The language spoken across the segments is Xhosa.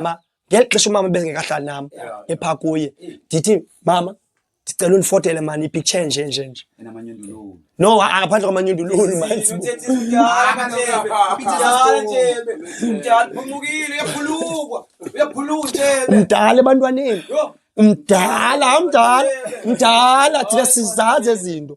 mama ngeli xesha umama ebengekahlali nam epha kuye ndithi mama ndicela undifotele mani ipicture nje nje nje no ngaphandle kwamanyundululu mdala ebantwaneni mdala mdala mdala thina sizazi ezinto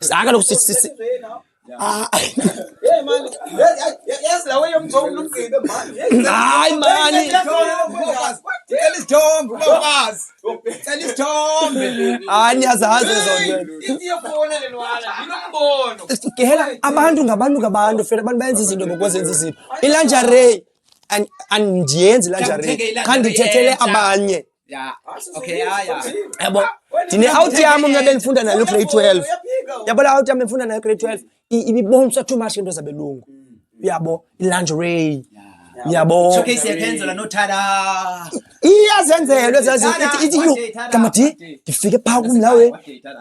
Saka lokhu sisi. Ah. Hey man, yes la way umthombo lomgqibe man. Hayi man. Cela isithombe ubafazi. Cela isithombe. Hayi niyazazi zonke. Iyafona le ntwana, yinombono. Gehela abantu ngabantu ngabantu fela abantu bayenza izinto ngokwenza izinto. Ilanjare andiyenzi ilanjare. Khandithethele abanye. Ya. Okay, ya ya. Yabo. Tine out yami mina benifunda nayo grade 12. Yabo la out yami benifunda nayo grade 12. Ibibonswa too much into zabelungu. Yabo, lingerie. Yabo. Showcase yaphenzela no tada. Iyazenzelwe zazi ithi ithi yo. Kamati, ngifike pha kumlawe.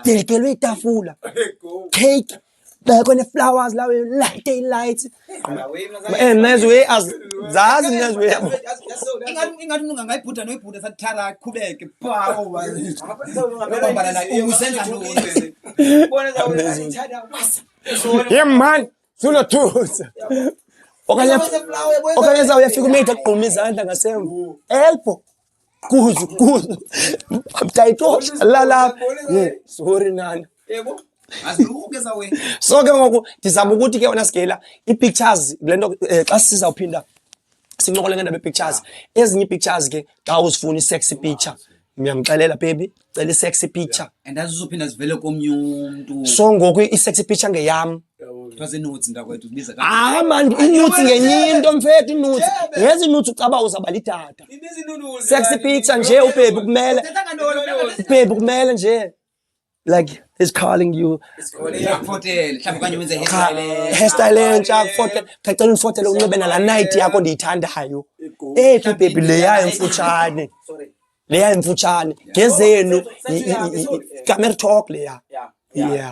Dekelwe itafula. Cake. bheke one-flowers lawo light eyilight and next way as zazi next way yabo ingathi ungangayibhuda noyibhuda sathara qhubeke ye mani sunothusa okanye okanye zawuyafika umeyitha kugquma izandla ngasemva elbo kuzu kuzu mtayitosha lalapha sorry nana yebo azilukeza wena so ke ngoku ndizama ukuthi ke wena sigela ii-pictures kule nto eh, xa sizawuphinda sincokole ngendaba ii-pictures ezinye ii-pictures ke xa uzifuna i-sexy picture ndiyamxelela baby cela i-sexy picture and azizophinda zivele komnye umntu so ngoku i-sexy picture ngeyam hayi mani inuts ngenye into mfethu inuts ngezi inuts ucaba uzaba litata sexy picture nje ubhebi kumele ubhebi kumele nje like is calling you hairstyle entsha akufotele cacela undifotele unxibe nala night yakho ndiyithandayo ephi ibhebi leyayo mfutshane leya imfutshane ngezenu kamertalk leya yeah